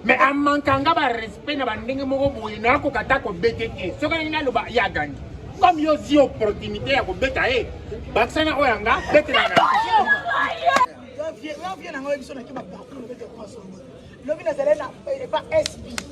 mais amankanga barespect na bandenge moko boye nakoka ata kobete te soki alingi naloba ye agangi comme yo ozwi opportunité ya kobeta ye bakisa na oyo yanga betela na lobi nazali na epa sb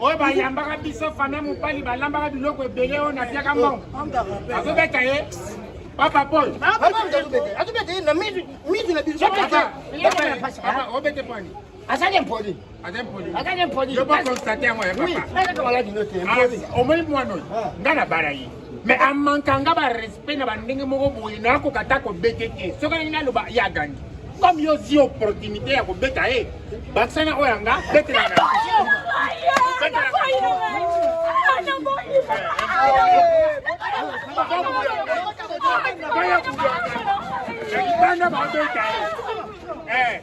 oyo bayambaka biso fami ya mobali balambaka biloko ebele oyo napiaka mbongo azobeta ye papa paul azobeta ye na mitu na biso obete pani azali impoli azali impoli omoni mwana oyo ngai nabala ye mais amankanga ba respect na bandenge moko boye na akoka ta kobete te soki alingi naloba ye agangi comme yo zi opportunité ya kobeta ye bakisa na oyo yanga betela na baya kuyanga na libanda babeta ye